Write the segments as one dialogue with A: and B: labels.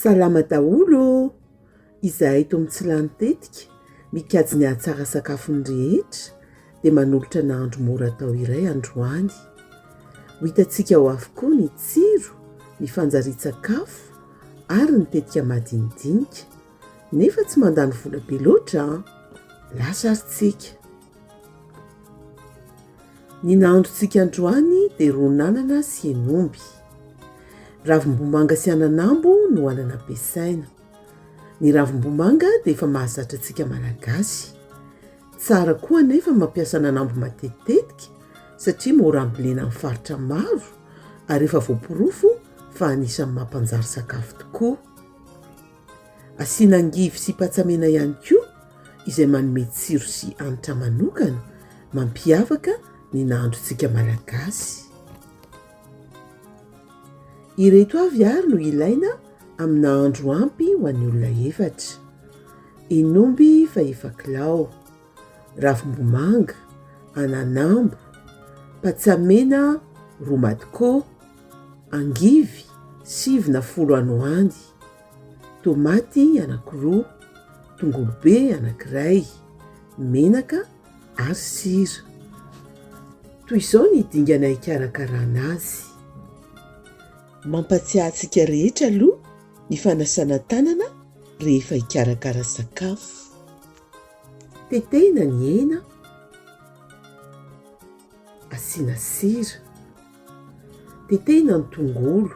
A: Salama daholo ô! Izahay eto amin'ny Tsilany tetika, mikajy ny hahatsara sakafon'ny rehetra, dia manolotra nahandro mora atao iray androany. Ho hitantsika ao avokoa ny tsiro, ny fanjarian-tsakafo ary ny tetika madinidinika. Nefa tsy mandany vola be loatra an! Lasa ary tsika. Ny nahandrontsika androany dia ron'anana sy hen'omby. Ravimbomanga sy ananambo no anana ampiasaina. Ny ravimbomanga dia efa mahazatra antsika malagasy. Tsara koa anefa mampiasa ananambo matetitetika satria mora ambolena amin'ny faritra maro ary efa voaporofo fa anisan'ny mampanjary sakafo tokoa. Asiana angivy sy patsa mena ihany koa izay manome tsiro sy hanitra manokana mampiavaka ny nahandrontsika malagasy. Ireto avy ary no ilaina amin'ny nahandro ampy ho an'ny olona efatra. Henomby fa efa kilao. Ravimbomanga, ananambo, patsamena roa madkô, angivy sivy na folo ano any, tômaty anankiroa, tongolo be anankiray, menaka ary sira. Toy izao ny dingana hikarakarana azy. Mampatsiahy antsika rehetra aloha ny fanasana tanana rehefa hikarakara sakafo. Tetehina ny hena, asiana sira. Tetehina ny tongolo,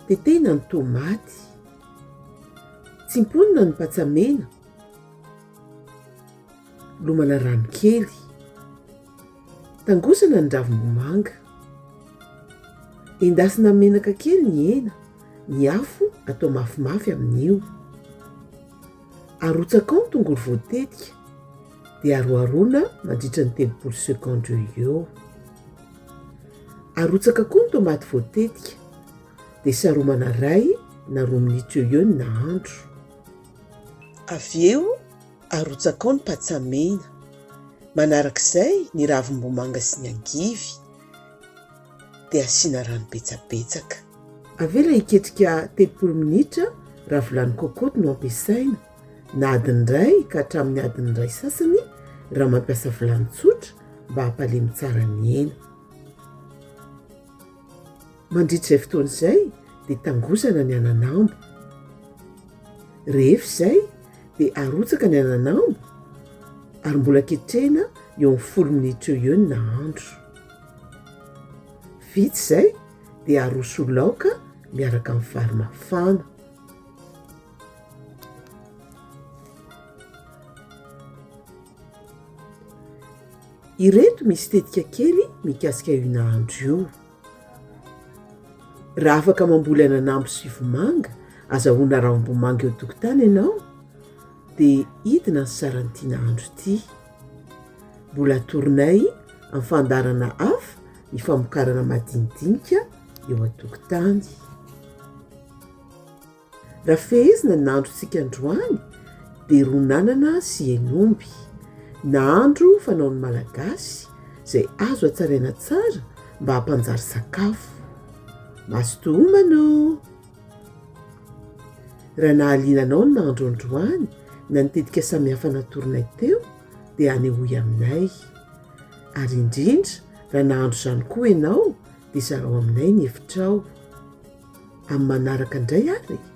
A: tetehina ny tomaty. Tsimponina ny patsa mena, lomana rano kely. Tangosana ny ravim-bomanga. Endasina amin'ny menaka kely ny hena, ny afo atao mafimafy amin'io. Arotsaka ao ny tongolo voatetika dia aroharoana mandritra ny telopolo secondes eo eo. Arotsaka koa ny tomaty voatetika dia saromana ray na roa minitra eo eo ny nahandro. Avy eo arotsaka ao ny patsa mena, manarak'izay ny ravim-bomanga sy ny angivy. dia asiana rano betsabetsaka. Avela hiketrika telopolo minitra raha vilany cocotte no ampiasaina, na adiny iray ka hatramin'ny adiny iray sasany raha mampiasa vilany tsotra mba hampalemy tsara ny hena. Mandritra izay fotoana izay dia tangosana ny ananambo. Rehefa izay dia arotsaka ny ananambo ary mbola ketrehina eo amin'ny folo minitra eo eo ny nahandro. Vita izay dia aroso ho laoka miaraka amin'ny vary mafana. Ireto misy tetika kely mikasika io nahandro io. Raha afaka mamboly ananambo sy vomanga, azahoana ranom-bomanga eo an-tokotany ianao dia hidina ny saran'ity nahandro ity. Mbola atoronay amin'ny fandaharana hafa ny famokarana madinidinika eo an-tokotany. Raha fehezina ny androntsika androany dia ronanana sy hen'omby. Nahandro fanaon'ny Malagasy izay azo hatsaraina tsara mba hampanjary sakafo. Mazotoa homana ô! Raha nahaliana anao ny nahandro androany na ny tetika samihafa natoronay teo dia anehoy aminay. Ary indrindra raha nahandro izany koa ianao dia zarao aminay ny hevitrao. Amin'ny manaraka indray ary e!